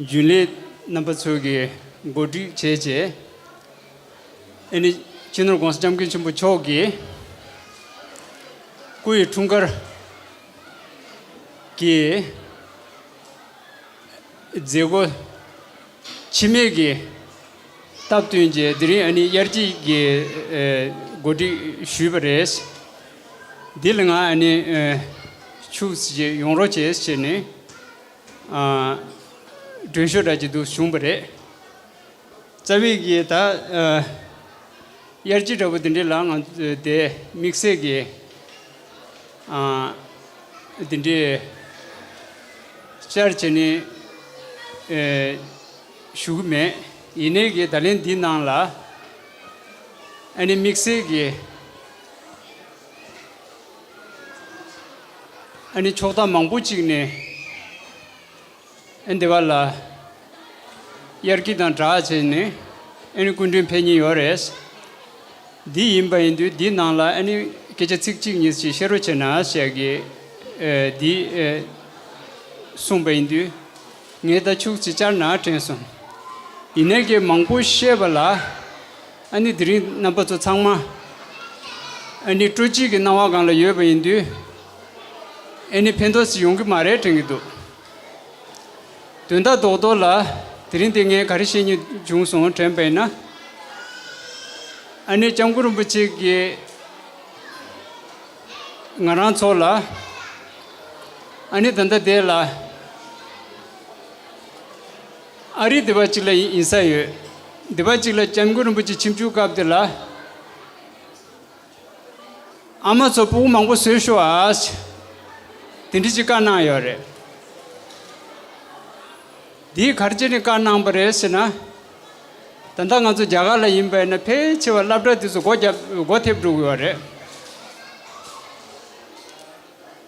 རྒྱུན་ལས་རྣམ་པ་ཚོས་ཀྱིས་གོ་སྒྲིག་བྱས་རྗེས། ཨེ་ནི་སྤྱི་ནོར ྋགོང་ས ྋསྐྱབས་མགོན་ཆེན་པོ་མཆོག་གིས་སྐུ་ཡི་འཁྲུངས་སྐར་གྱི་མཛད་སྒོ་འཆི་མེད་ཀྱི་སྟབས་བསྟུན་རྗེས་དེ་རིང་ཨ་ནི་དབྱར་སྐྱིད་ཀྱིས་གོ་སྒྲིག་ཞུས་པ་རེད། འདི་ལ་ང་ཨ་ནི་ཕྱུགས་ཡོང་རོགས་བྱེད་ཟེར་ནས། སྒྲོན་ཤོ་དྲག་གི་དུག་བྱུང་བ་རེད། རྩ་བའི་གིས་ད། དབྱར་སྐྱིད་འདྲ་པོ་དེ་འདྲའི་ལག་ང་དེ་དམིགས་བསལ་གི། དེ་འདྲའི། བཅར་བྱས་ནས། ཞུ་གི་མེད། ཡིན་ནའི་གིས་ད་ལན་འདི་ནང་ལ། ཨ་ནི་དམིགས་བསལ་གི། ཨ་ནི་ཕྱོགས་མཐའ་མང་པོ་གཅིག་ནས་ཨ་འདི་ག་ལ་དབྱར་སྐྱིད་དང་གྲགས་ཆེ་ནས་ཨ་ནི་སྐུ་མགྲོན་ཕེབས་ཉིན་ཡོད་རེད། འདི་ཡིན་པ་ཡིན་དུས་འདི་ནང་ལ་ཨ་ནི་སྐད་ཆ་ཚིག་གཅིག་གཉིས་ཅིག་བཤད་རོགས་བྱས་ན་བཤད་གི། འདི་གསུངས་པ་ཡིན་དུས་ངས་ད་ཕྱུགས་ཅིག་བཅར་ན་དྲན་སོང། ཡིན་ནའི་སྐད་མང་པོ་བཤད་པ་ལ། ཨ་ནི་དེ་རིང་རྣམ་པ་ཚོ་ཚང་མ་ཨ་ནི་སྤྲོ་སྐྱིད་ཀྱི་སྣང་བ་སྒང་ལ་ཡོད་པ་ཡིན་དུས། ཨེ་ནི་ཕན་ཐོགས་ཤིག་ཡོང་གི་མ་རེད་དྲན་གྱི་འདུག་དོན་དག་རྡོག་རྡོག་ལ་དེ་རིང་འདི་ངས་ག་རེ་བཤད་ཉེས་བྱུང་སོང་དྲན་པས་ན། ཨ་ནི་སྐྱབས་མགོན་རིན་པོ་ཆེ་གིས་ང་རང་ཚོ་ལ་ཨ་ནི་ད་ལྟ་བསྡད་ལ། ཨ་རིའི་སྡེ་བ་གཅིག་ལ་ཡིན་ཡིན་ས་ཡོད། སྡེ་བ་གཅིག་ལ་སྐྱབས་མགོན་རིན་པོ་ཆེ་ཁྱིམ་བཅུག་སྐབས་དེ་ལ། ཨ་མ་ཚོ་སྤུ་བོ་མང་པོ་བཟོས་ཤོག་ཨ་ཨཱས། དེ་འདྲི་ཅིག་བཀའ་གནང་ཡོད་རེད། དེའི་གར་ཅི་ནས་བཀའ་གནང་པ་རེད་ཟེར་ན། ད་ལྟ་ང་ཚོ་རྒྱ་གར་ལ་ཡིན་པས་ན་ཕལ་ཆེ་བ་བསླབ་གྲྭ་དེ་ཚོ་སྒོ་ཐེབས་འགྲོ་གི་ཡོད་རེད།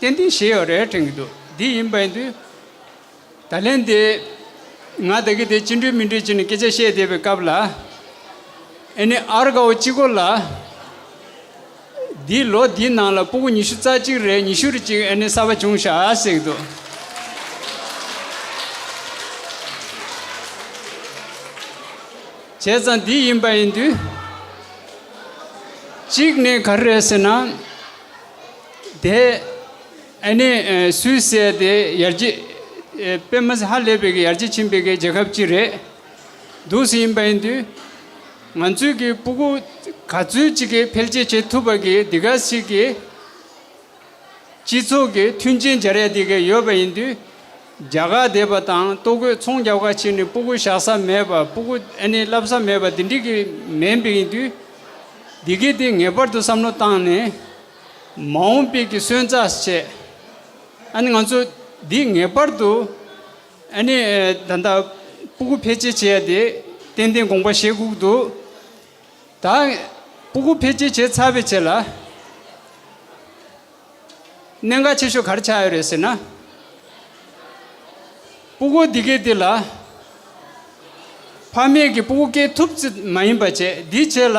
ཏན་ཏན་བྱས་ཡོད་རེད་དྲན་གྱི་འདུག་དེ་ཡིན་པའི་དུས། ད་ལན་དེ། ང་ད་གི་དེ་ཅི་འགྲིག་མི་འགྲིག་ཅི་ནི་སྐད་ཆ་བཤད་བསྡད་པའི་སྐབས་ལ། ཨེ་ནི་ཨར་དགའ་བོ་གཅིག་གོ་ལ། འདིས་ལོ་འདིའི་ནང་ལ་སྤུ་གུ་ཉི་ཤུ་རྩ་གཅིག་རེད་ཉི་ཤུ་རེ་གཅིག་ཨེ་ནི་གསར་པ་བྱུང་ཤག་ཟེར་གྱི་འདུག། བྱས་ཙང་དེ་ཡིན་པ་ཡིན་དུས། གཅིག་ནས་ག་རེ་རེད་ཟེར་ན། དེ་ནི་སུད་སི་དེ་ཡར་རྒྱས་སྤེལ་མ་ཟད་ཧ་ལས་པའི་ཡར་རྒྱས་ཕྱིན་པའི་རྒྱལ་ཁབ་ཅིག་རེད་འདུག་སུ་ཡིན་པ་ཡིན་དུས། ང་ཚོས་ཀྱི་སྤུ་གུ་ག་ཚོད་ཅིག་གིས་འཕེལ་རྒྱས་བྱེད་ཐུབ་པ་གིས་འདི་ག་ཞིག་གི་སྤྱི་ཚོགས་ཀྱི་མཐུན་རྐྱེན་སྦྱར་ཡ་དེ་ག་ཡོད་པ་ཡིན་དུས། རྒྱ་གར་སྡེ་པ་དང་ལྟོ་གོས་ཚོང་རྒྱབ་ཁ་ཕྱེ་ནས་སྤུ་གུ་བཞག་ས་མེད་པ་སྤུ་གུ་བསླབ་ས་མེད་པ་དེ་འགྲིག་གི་མིན་པས་ཡིན་དུས། འདི་གའི་དེ་ངེས་པར་དུ་བསམ་བློ་བཏང་ནས། མ་འོངས་དཔལ་གྱི་སོན་རྩ་བཅད། ཨ་ནི་ང་ཚོ་འདིས་ངེས་པར་དུ་ཨ་ནི་ད་ལྟ་སྤུ་གུ་འཕེལ་རྒྱས་བྱས་ཏེ་ཏན་ཏན་དགོངས་པ་བཞེས་བསྒུགས་འདུག་ད་སྤུ་གུ་འཕེལ་རྒྱས་བྱས་ཚར་བའི་རྗེས་ལ་གནད་འགག་ཆེ་ཤོས་ག་རེ་ཆགས་ཡོད་རེད་ཟེར་ན། སྤུ་གུ་འདི་གའི་འདི་ལ་ཕ་མེས་ཀྱི་སྤུ་གུ་སྐྱེ་ཐུབ་ཙམ་མ་ཡིན་པ་བཅད་འདིས་བྱས་ལ།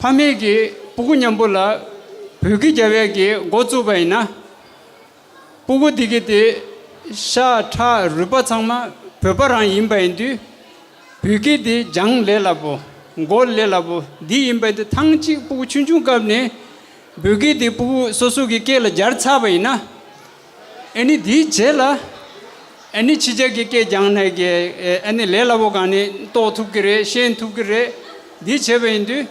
ཕ་མེས་ཀྱི་སྤུ་གུ་མཉམ་པོ་ལ་བོད་ཀྱི་རྒྱ་བལ་གྱི་འགོ་བཙུགས་པ་ཡིན་ན། སྤུ་གུ་འདི་གི་དེ་ཤ་ཁྲག་རུས་པ་ཚང་མ་བོད་པ་རང་ཡིན་པ་ཡིན་དུས། བོད་ཀྱི་དེ་རྒྱང་ལས་སླ་པོ་མགོ་ལས་སླ་པོ་འདི་ཡིན་པ་དེ་ཐང་ཅིག་སྤུ་གུ་ཆུང་ཆུང་སྐབས་ནས་བོད་ཀྱི་དེ་སྤུ་གུ་སོ་སོ་གི་སྐེ་ལ་སྦྱར་ཚར་བ་ཡིན་ན། ཨེ་ནི་དེའི་རྗེས་ལ་ཨེ་ནི་ཕྱི་རྒྱལ་གྱི་སྐད་རྒྱང་ནས་ཀྱི་ཨེ་ནི་ལས་སླ་པོ་གང་ནི་རྟོགས་ཐུབ་ཀྱི་རེད་ཤེས་ཐུབ་ཀྱི་རེད་འདི་བྱས་པ་ཡིན་དུས།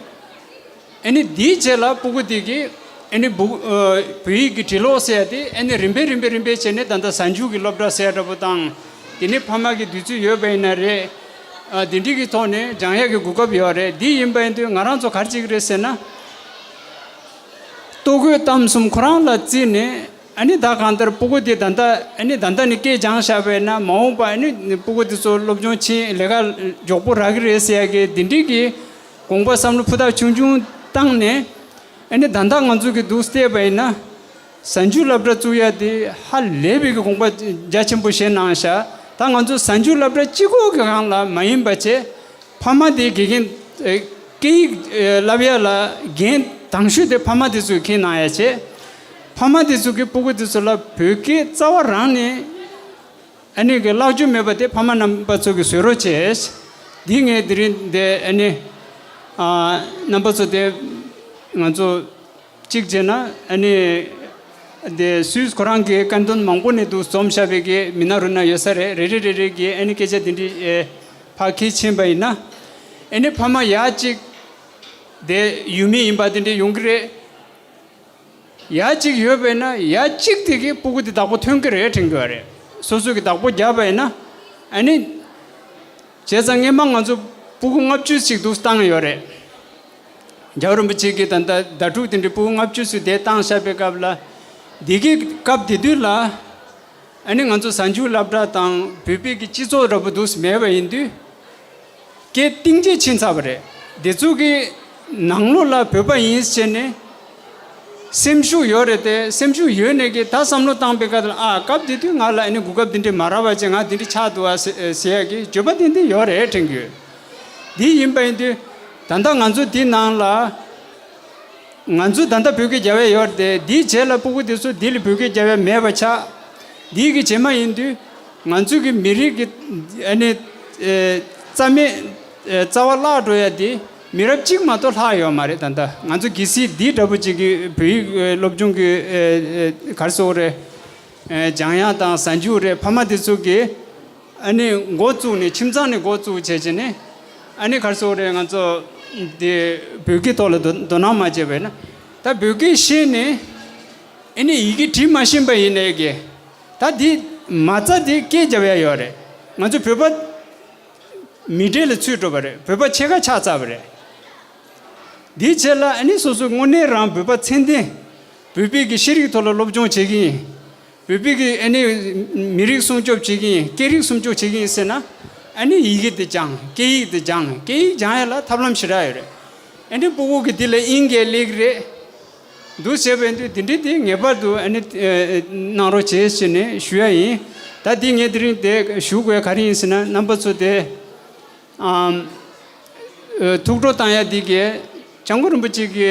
ཨེ་ནི་དེའི་རྗེས་ལ་པུ་གུ་ཏི་གིས་ཨེ་ནི་བུ་བོད་ཡིག་གི་བྲིས་ཀློག་བསལ་ཏེ་ཨེ་ནི་རིམ་པས་རིམ་པས་རིམ་པས་བྱས་ནས་ད་ལྟ་གཟའ་མཇུག་གི་སློབ་གྲྭ་གསལ་འདྲ་པོ་བཏང། དེ་ནི་ཕ་མ་གི་འདོད་ཚུལ་ཡོད་པ་ཡིན་ན་རེད། དེ་འགྲིག་གི་ཐོག་ནས་སྦྱང་ཡག་གི་གོ་སྐབས་ཡོད་རེད་འདི་ཡིན་པ་ཡིན་དུས་ང་རང་ཚོ་གར་གཅིག་རེད་ཟེར་ན། ལྟོ་གོས་གཏམ་གསུམ་ཁོ་རང་ལ་བརྩིས་ནས། ཨ་ནི་ད་གང་ལྟར་སྤུ་གུ་དེ་ད་ལྟ་ཨ་ནི་ད་ལྟ་ནས་སྐད་སྦྱང་བཞག་པས་ན་མ་འོངས་པ་ཨ་ནི་སྤུ་གུ་དེ་ཚོ་སློབ་སྦྱོང་ཕྱིན་ལས་ཀ་མགྱོགས་པོ་རག་གི་རེད་ཟེར་ཡག་གི་འདི་འདྲིས་ཀྱི་དགོངས་པ་བསམ་བློ་ཕུ་ཐག་ཆུང་ཆུང་བཏང་ནས་ཨ་ནི་ད་ལྟ་ང་ཚོ་གི་འདུག་བལྟས་པ་ཡིན་ན་གཟའ་མཇུག་བསླབ་གྲྭ་བཙུགས་ཡག་འདི་ཧ་ལས་པའི་གི་དགོངས་པ་རྒྱ་ཆེན་པོ་བཞེས་གནང་བཞག་ད་ང་ཚོ་གཟའ་མཇུག་བསླབ་གྲྭ་སྤྱི་ཁོག་གི་གང་ལ་མ་ཡིན་པ་བྱས་ཕ་མ་དེའི་དགེ་རྒན་སྐད་ཡིག་བསླབ་ཡག་ལ་རྒན་དམ་ཤུད་དེ་ཕ་མ་དེ་ཚོས་ཁས་གནང་ཡག་བྱས། ཕ་མ་དེ་ཚོ་གིས་སྤོ་སྒུག་དེ་ཚོ་ལ་བོད་སྐད་རྩ་བ་རང་ནས་ཨ་ནེ་གི་བཀླག་རྒྱུ་མེད་པ་དེ་ཕ་མ་རྣམ་པ་ཚོ་གིས་བཟོས་རོགས་བྱས། འདི་ངས་དེ་རིང་འདས་ཨ་ནེ་རྣམ་པ་ཚོ་དེ་ང་ཚོ་གཅིག་བྱས་ན་ཨ་ནེ་དེ་སུས་ཁོ་རང་གི་བཀའ་དོན་མང་པོ་ནས་འདུག་རྩོམ་ཞབས་པའི་གི་མི་ནང་རུ་ན་ཡོད་ས་རེད་རེ་རེ་རེ་རེ་གིས་ཨ་ནེ་སྐད་ཆ་དེ་འདྲི་བ་གལ་ཆེན་པ་ཡིན་ན་ཨ་ནེ་ཕ་མ་ཡག་ཅིག་དེ་ཡུལ་མི་ཡིན་པ་དེ་འདྲི་ཡོང་གི་རེད། ཡ་གཅིག་ཡོད་པས་ན་ཡ་གཅིག་དེ་གིས་སྤུ་གུ་དེ་བདག་པོ་ཐོན་གི་རེད་དྲན་གི་བ་རེད། སོ་སོ་གི་བདག་པོ་བརྒྱབ་པས་ན། ཨ་ནི། བྱས་ཙང་ངེས་མ་ང་ཚོ་སྤུ་གུ་ལྔ་བཅུ་ཞིག་འདུག་བཏང་ཡོད་རེད། རྒྱལ་བ་རིན་པོ་ཆེ་གིས་ད་ལྟ་ཟླ་དྲུག་དེ་འདྲའི་སྤུ་གུ་ལྔ་བཅུ་ཞིག་དེ་བཏང་བཞག་པའི་སྐབས་ལ། འདི་གི་སྐབས་དེ་དུས་ལ། ཨ་ནི་ང་ཚོ་གཟའ་མཇུག་བསླབ་གྲྭ་དང་བོད་པའི་གི་སྤྱི་ཚོགས་ར་པོ་འདུག་སི་མེད་པ་ཡིན་དུས། ཀྱི་གཏིང་རྗེ་ཕྱིན་ཚར་བ་རེད། འདི་ཚོ་གི་ནང་ལོགས་ལ་བོད་པ་ཡིན་ཟེར་ནས་སེམས་ཤུགས་ཡོད་རེད་དེ་སེམས་ཤུགས་ཡོད་ནས་ཀྱི་ད་བསམ་བློ་བཏང་པའི་ཁ་ཨ་སྐབས་དེ་དུས་ང་ལ་ཨ་ནི་གོ་སྐབས་འདི་འདྲི་མ་རག་བ་ཅན་ང་འདི་འདྲི་ཆགས་འདུག་ཨ་ཟེར་ཡ་ཀྱི་བརྗོད་པ་ཏན་ཏན་ཡོད་རེད་དྲན་གྱི་ཡོད། དེ་ཡིན་པ་ཡིན་དུས་ད་ལྟ་ང་ཚོ་འདི་ནང་ལ་ང་ཚོ་ད་ལྟ་བོད་སྐད་རྒྱ་བས་ཡོད་དེ་འདི་བྱས་ལ་སྤུ་གུ་དེ་ཚོ་འདི་ལ་བོད་སྐད་རྒྱ་བས་མེད་པ་ཆགས་འདི་གི་བྱེད་མ་ཡིན་དུས། ང་ཚོས་གི་མི་རིགས་ཀྱི་ཨ་ནི། རྩ་མེད། རྩ་བ་བརླག་འགྲོ་ཡ་དེ། མི་རབས་གཅིག་མ་གཏོགས་ལྷག་ཡོད་མ་རེད་ད་ལྟ་ང་ཚོ་གི་སི་འདི་འདྲ་པོ་ཅིག་གི་བོད་ཡིག་སློབ་སྦྱོང་གི་གར་སོ་རེད། འཇང་དབྱངས་དང་གཟའ་མཇུག་རེད་ཕ་མ་དེ་ཚོ་གི། ཨ་ནི་མགོ་བཙུགས་ནས་ཁྱིམ་ཚང་ནས་མགོ་བཙུགས་བྱས་བྱས་ནས། ཨ་ནི་གར་སོ་རེད་ང་ཚོ། དེ་བོད་སྐད་ཐོག་ལ་དོ་སྣང་མ་བྱས་པས་ན། ད་བོད་སྐད་ཤེས་ནས། ཨ་ནི་ཡི་གེ་བྲིས་མ་ཤེས་པ་ཡིན་ནའི་གི། ད་འདི་མ་རྩ་འདི་སྐད་རྒྱབ་ཡ་ཡོད་རེད་ང་ཚོ་བོད་པ། མི་འབྲེལ་ལ་ཚུད་འགྲོ་བ་རེད་བོད་པ་ཕྱེད་ཀ་ཆགས་ཚར་བ་རེད། དེའི་ཕྱེད་ལ་ཨ་ནི་སོ་སོའི་དངོས་གནས་རང་བོད་པ་མཚན་ལྡན། བོད་པའི་གི་ཤེས་རིག་ཐོག་ལ་སློབ་སྦྱོང་བྱེད་གིན་ཡིན། བོད་པའི་གི་ཨ་ནི་མི་རིགས་སྲུང་སྐྱོབ་བྱེད་གིན་ཡིན་སྐད་རིགས་སྲུང་སྐྱོབ་བྱེད་གིན་ཡིན་ཟེར་ན། ཨ་ནི་ཡི་གེ་འདི་སྦྱང་སྐད་ཡིག་འདི་སྦྱང་སྐད་ཡིག་སྦྱང་ཡ་ལ་ཐབས་ལམ་ཞེ་དྲག་ཡོད་རེད། ཨ་ནི་སྤོ་བོ་གི་འདི་ལ་ཨིན་སྐད་ལེགས་རེད། འདུ་བྱེད་པས་འདུས་དེ་འདྲས་དེ་ངེས་པར་དུ་གནང་རོགས་བྱེད་ཅེས་ནས་ཞུ་ཡ་ཡིན། ད་འདི་ངས་དེ་རིང་དེ་ཞུ་དགོས་ག་རེ་ཡིན་ཟེར་ན་རྣམ་པ་ཚོ་དེ། ཐུགས་སྤྲོ་བཏང་ཡ་འདི་གས་སྤྱང་པོ་རིན་པོ་ཆེ་གི་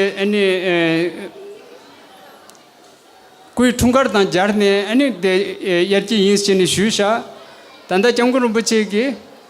སྐུའི་འཁྲུངས་སྐར་དང་སྦྱར་ནས་དབྱར་གྱི་ཡིན་ཞེས་ནས་ཞུས་བཞག་ད་ལྟ་སྤྱང་པོ་རིན་པོ་ཆེ་གི།